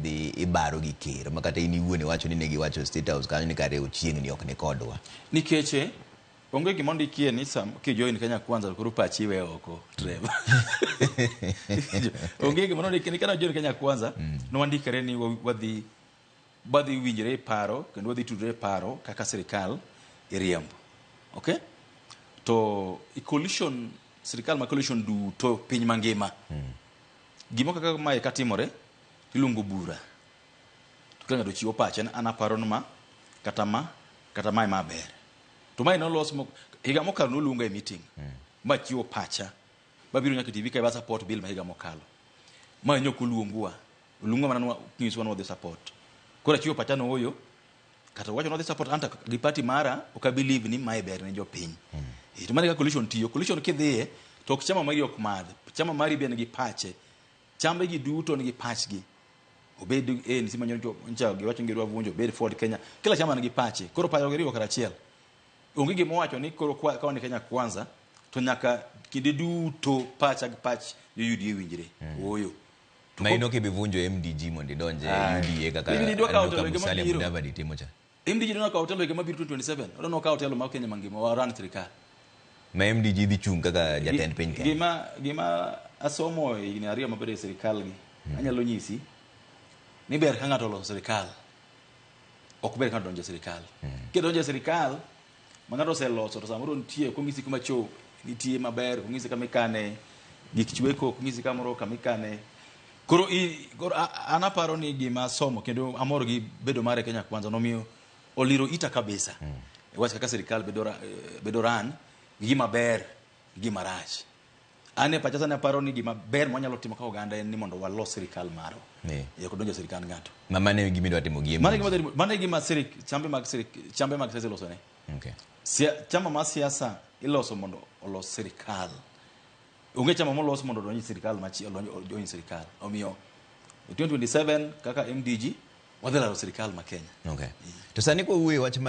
dhi ibaro gi ker ma kata in iwuon iwacho ni ne giwacho state house kanyo ni kare ochiengni ok ni kodwa nikech eh, onge gima ondikie ni sam kijoin kenya kwanza to koro pachi iwe oko trevor onge gima nondikie ni kana join kenya kwanza nowandikre ni wa- wadhi wadhi winjre e paro kendo wadhi tudre e paro kaka sirikal iriembo okay to i coalition sirikal ma coalition duto piny mangima gimo kaka mae katimore Iluongo bura to ka ng'ato chiwo pache ni an aparo ni ma kata ma kata ma ema ber. To mae nolos mo- higa mokalo noluonga e meeting ma chiwo pacha mabiro nyaka e TV ka iba support bill ma higa mokalo. Ma ne ok oluongwa, oluongwa mana ni wa- nyisowa ni wadhi support. Koro achiwo pacha ni ooyo, kata wacho ni wadhi support anta gi party mara ok a believe ni mae ber ne jopiny. Eh, To mano e kaka coalition tiyo. Coalition kidhiye to ok chama mari ok madh, chama mari be en gi pache. Chambe ji duto nigi pachgi. Obed ANC ma nyocha nyocha giwacho ni gidwa vunjo, obed Ford Kenya, kila chama nigi pache. Koro paro giriwo kar achiel. Onge gima owacho ni koro kwa- kawa ni Kenya kwanza to nyaka kinde duto pacha gi pach jo UDA winjre. Ooyo. To ma ko- ino kibivunjo MDG mondo idonje Aye. UDA kaka Ibiro idwa kawo Andoka jolweny Musalia mabiro. Mudavadi timo cha. MD jidwa nakawo otelo higa mabiro 2027 odwa nokawo otelo mar Kenya mangima wa run sirikal ma MDG dhi chung' kaka jatend piny Kenya. Gima gima asomo e higni ariyo mabedo e sirikal gi hmm. anyalo nyisi ni ber ka ng'ato oloso sirikal ok ber ka ng'ato donjo e sirikal. Hmm. Kidonjo e sirikal ma ng'ato oseloso to samoro nitie ok onyisi kuma cho nitie maber ok onyisi kama ikane gik chweko ok onyisi kamoro kama ikane koro i- koro a- a- an aparo ni gima somo kendo amor gi bedo mare kenya kwanza nomiyo oliro ita kabisa e wach kaka sirikal bedo ra- eh, bedo ran gi gima ber gi gima rach An e pacha sani aparo ni gima ber mwanyalo timo ka oganda en ni mondo walos sirikal marwa. Eh. Eh, ok donjo e sirikand ng'ato. Ma mano e gima idwa timo gi Mano e gima dhi- mano e gima sirik- chambe mag sirik- chambe mag siasa ilosone. Okay. Sia- chama mar siasa iloso mondo olos sirikal onge chama molos mondo odonj e sirikal machi- odonj odonj e sirikal omiyo e 2027 kaka mdg wadhi laro sirikal ma kenya Okay. To sani kwa wuoyo wach mar